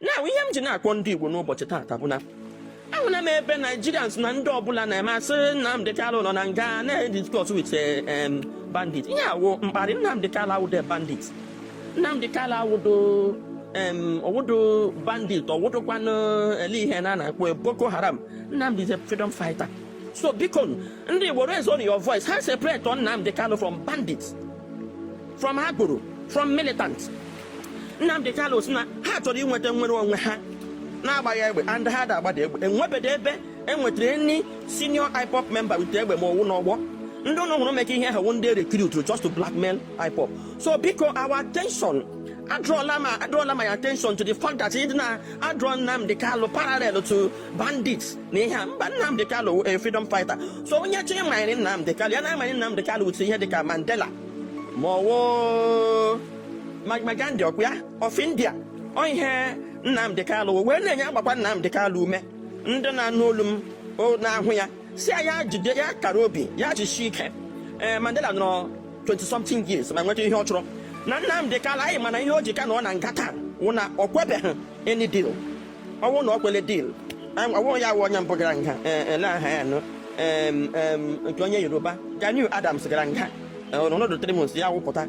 na ihe m ji na-akpọ ndị Igbo n'ụbọchị taata bụ na ahụla m ebe Nigerians na ndị ọbụla na Mazi Nnamdi Kanu nọ na nga na-discuss with eh, em, bandit ihe a wụ mkparị Nnamdi Kanu awụdo bandit Nnamdi Kanu awụdo em, ọwụdo bandit ọwụdokwanụ ele ihe na a na-akpọ ya Boko Haram Nnamdi is a freedom fighter so biko ndị Igbo raise on your voice ha separate on Nnamdi Kanu from bandits from agboro from militants Nnamdi Kanu si na ha chọrọ inweta nnwere onwe ha na-agbaghị egbe and ha da agbada egbe enwebedo ebe e nwetara any senior IPOB member with egbe ma ọwụ n'ọgbọ ndị ụlọ hụrụ meka ihe ahụ ndị recruit just to blackmail IPOB so biko our attention adrọla ma adrọla my attention to the fact that ndị na-adrọ Nnamdi Kanu parallel to bandits na ihe a mba Nnamdi Kanu a freedom fighter so onye chọrọ ịmanye Nnamdi Kanu ya na-amanye Nnamdi Kanu with ihe dịka Mandela ma ọwụ Mahatma Gandhi ọkwa ya of India ọ ihe Nnamdi Kanu wee na-enye agbakwa Nnamdi Kanu ume ndị na-anụ olu m na-ahụ ya si ya jide ya kara obi ya jisie ike ee eh, Mandela nọrọ 20 something years ma nweta ihe ọ chọrọ na Nnamdi Kanu anyị mana ihe o ji ka na ọ nọ nga taa wụ na ọ kwebeghị any deal ọ wụ na ọ kwele deal ọ wụ ya wụ onye mbụ gara nga eh, eh, na aha ya nụ nke onye Yoruba Gani Adams gara nga ọ nọdụ three months ya apụta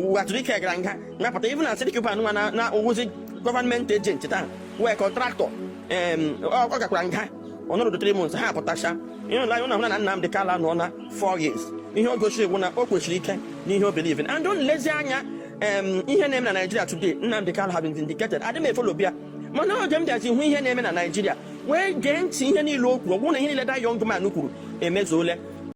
Uwazuruike gara nga napụta even Asari Dokubo nwa na ọ wụzi government agent taa wee contractor ọ gakwara nga ọ nọrọ three months ha apụtacha you know anyị na-ahụ na Nnamdi Kanu nọ na four years ihe o gosiri bụ na o kwesiri ike n'ihe o believe and unu lezie anya ihe na-eme na Nigeria today Nnamdi Kanu have been vindicated adị m efolobi ya mana oge m bịazi hụ ihe na-eme na Nigeria wee gee ntị ihe niile o kwuru ọ bụrụ na ihe niile the young man kwuru emezuole